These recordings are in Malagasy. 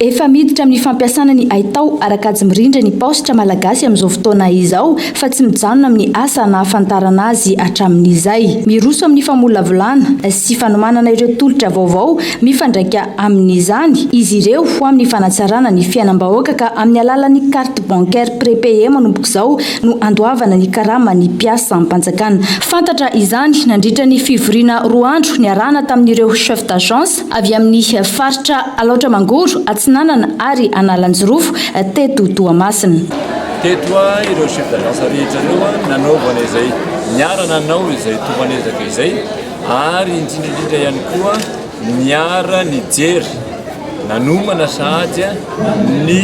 Efa miditra amin'ny fampiasana ny haitao ara-kajy mirindra ny paositra malagasy amin'izao fotoana izao fa tsy mijanona amin'ny asa nahafantarana azy hatramin'izay. Miroso amin'ny famolavolana sy fanomanana ireo tolotra vaovao mifandraika amin'izany izy ireo ho amin'ny fanatsarana ny fiainam-bahoaka ka amin'ny alalan'ny carte bancaire prépayée manomboka izao no andoavana ny karaman'ny mpiasam-panjakana. Fantatra izany nandritra ny fivoriana roa andro niarahana tamin'ireo chefs d'agence avy amin'ny faritra Alaotra Mangoro, Atsinanana ary Analanjirofo teto Toamasina. Teto ireo chefs d'agence rehetra ireo nanaovana izay niara nanao izay tomban'ezaka izay ary indrindra indrindra ihany koa niara nijery nanomana sahady ny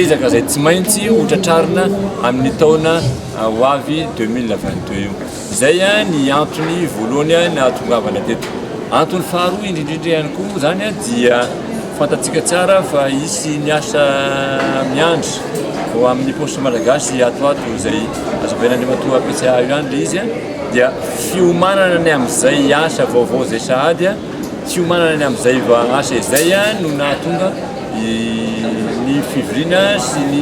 ezaka izay tsy maintsy hotratrarina amin'ny taona ho avy 2022 io. Izay ny antony voalohany nahatongavana teto. Antony faharoa indrindrindra ihany koa izany dia fantatsika tsara fa hisy ny asa miandry ho amin'ny paositra malagasy ato ato izay azo avelan'Andriamatoa PCA io ihany ilay izy dia fiomanana ny amin'izay asa vaovao izay sahady Tsy hiomanana ny amin'izay asa izay no nahatonga ny fivoriana sy ny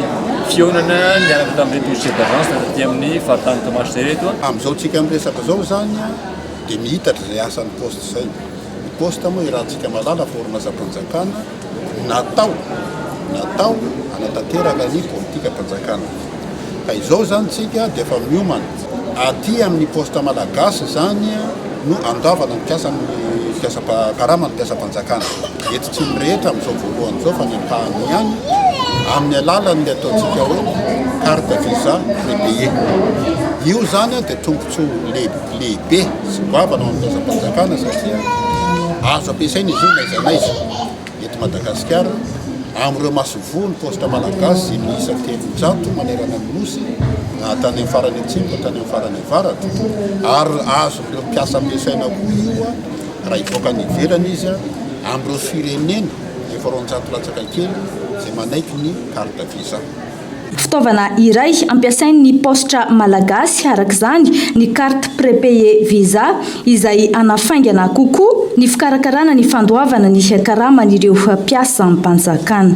fihaonana niaraka tamin'ireto chefs d'agence taty amin'ny faritany Toamasina ireto. Amin'izao tsika miresaka izao izany dia mihitatra izay asan'ny poste izay. Ny poste moa iarahantsika malala forme asam-panjakana. Natao, natao hanatanteraka ny politikan-panjakana. Ka izao izany tsika dia efa miomana. Aty amin'ny poste malagasy izany no andavana ny mpiasa mpiasa karama ny mpiasam-panjakana eto tsy ny rehetra amin'izao voalohany izao fa ny ampahany ihany amin'ny alalan'ny ataontsika hoe carte visa prepayé. Io izany dia trompe. Antso lehibe sy goavana ho an'ny fitondram-panjakana satria azo ampiasaina izy io n'aiza n'aiza eto Madagasikara. Amin'ireo masoivoho ny paositra malagasy izay miisa telonjato manerana ny Nosy na tany amin'ny farany atsimo na tany amin'ny farany avaratra ary azon'ireo mpiasa ampiasaina koa io raha hivoaka any ivelany izy amin'ireo firenena efa roanjato latsaka kely izay manaiky ny carte visa. Fitaovana iray ampiasain'ny paositra malagasy araka izany ny carte prépayé visa izay hanafaingana kokoa ny fikarakarana ny fandoavana ny karaman'ireo mpiasampanjakana.